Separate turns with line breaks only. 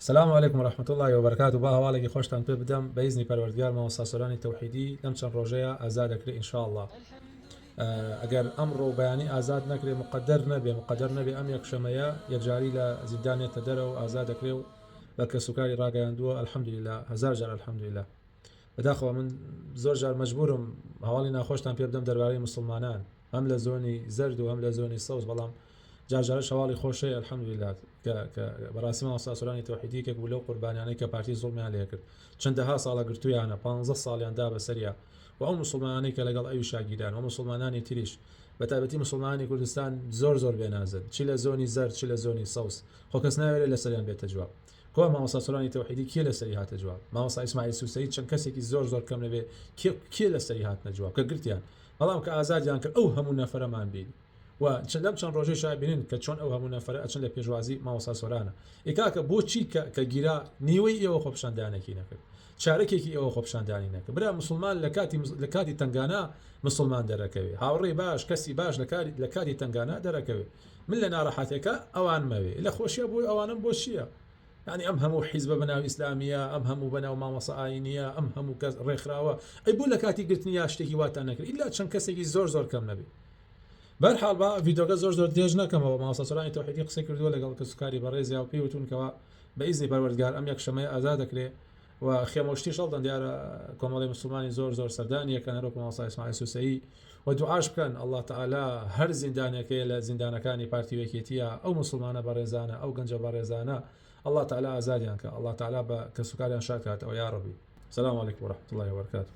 سلام علیکم و رحمە اللە و برکاته با هەواڵێکی خۆشتان پێ بدەم بە ئیزنی پەروەردگار مامۆستا سۆرانی تەوحیدی لەم چەند ڕۆژەیە ئازاد دەکرێ ان شاء اللە ئەگەر ئەمڕۆ و بەیانی ئازاد نەکرێ مقدر نەبێ مقدر نەبێ ئەم یەکشەمەیە یەکجاری لە زیندان نێتە دەرەوە ئازاد دەکرێ و بە کەسوکاری ڕاگەیاندووە الحمدللە هەزار جار الحمدللە بەداخەوە من زۆر جار مەجبورم هەواڵی ناخۆشتان پێ بدەم دەربارەی مسلمانان هەم لە زۆنی زەرد و هەم لە زۆنی سەوز بەڵام جار جارش هەواڵی خۆشەی الحمدللە کە کە بەڕاستی مامۆستا سۆرانی تەوحیدی یەکێک بوو لەو قوربانیانەی کە پارتی زوڵمیان لێ کرد چەندەها ساڵە گرتوویانە پانزە ساڵیان دا بەسەریا و ئەو موسڵمانانەی کە لەگەڵ ئەویشا گیران و موسڵمانانی تریش بە تایبەتی موسڵمانانی کوردستان زۆر زۆر بێ نازن چی لە زۆنی زەرد چ لە زۆنی سەوز خۆ کەس ناوێرێ لەسەریان بێتە جواب کوا مامۆستا سۆرانی تەوحیدی کێ لەسەری هاتە جواب مامۆستا ئیسماعیل سوسەی چەند کەسێکی زۆر زۆر کەم نەبێ کێ کێ لەسەری هاتنە جواب کە گرتیان بەڵام کە ئازادیان کرد ئەو هەموو نەفرەمان بین و چ لەم چەند ڕۆژەی شا بینن کە چۆن ئەو هەموو نەفەرە ئەچن لە پێشوازی مامۆستا سۆرانە ئێ کاکە بۆ چی کە کە گیرا نیوەی ئێوە خۆپیشاندانێکی نەکرد چارەکێکی ئێوە خۆپیشاندانی نەکە برا مسوڵمان لە کاتی لە کاتی تەنگانا مسوڵمان دەرەکەوێ هاوڕێی باش کەسی باش لە کاری لە کاتی تەنگانا دەرەکەوێ من لە ناڕەحەتێکە ئەوان مەوێ لە خۆشیە بۆی ئەوانم بۆ چییە ینی ئەم هەموو حیزبە بەناو ئیسلامیە ئەم هەموو بەناو مامەسە ئاینیە ئەم هەموو کەس ڕێکخراوە ئەی بوو لە کاتی گرتنی یا شتێکی واتان نەکرد ئیلا چەند کەسێکی زۆر زۆر کەم نەبێ بەرحاڵ با ڤیدۆکە زۆر زۆر درێژ نەکەمەوە مامۆستا سۆرانی تەوحیدی قسەی کردووە لەگەڵ کەسوکاری بەڕێزیا و پێی وتوون کەوا بە ئیزنی پەروەردگار ئەم یەکشەمەیە ئازاد دەکرێ و خێمە و شتیش هەڵدەن دیارە کۆمەڵی مسلمانی زۆر زۆر سەردانی یەکەن هەروەکو مامۆستا ئیسماعیل سوسەیی و دوعاش بکەن اللە تعالی هەر زیندانێکەیە لە زیندانەکانی پارتی و یەکێتیە ئەو مسلمانە بەڕێزانە ئەو گەنجە بەڕێزانە اللە تعالی ئازادیان کە اللە تعالی بە کەسوکاریان شاد کاتەوە یاڕەبی سلام علیکم و رەحمەتوڵڵاهی و بەرەکاتوو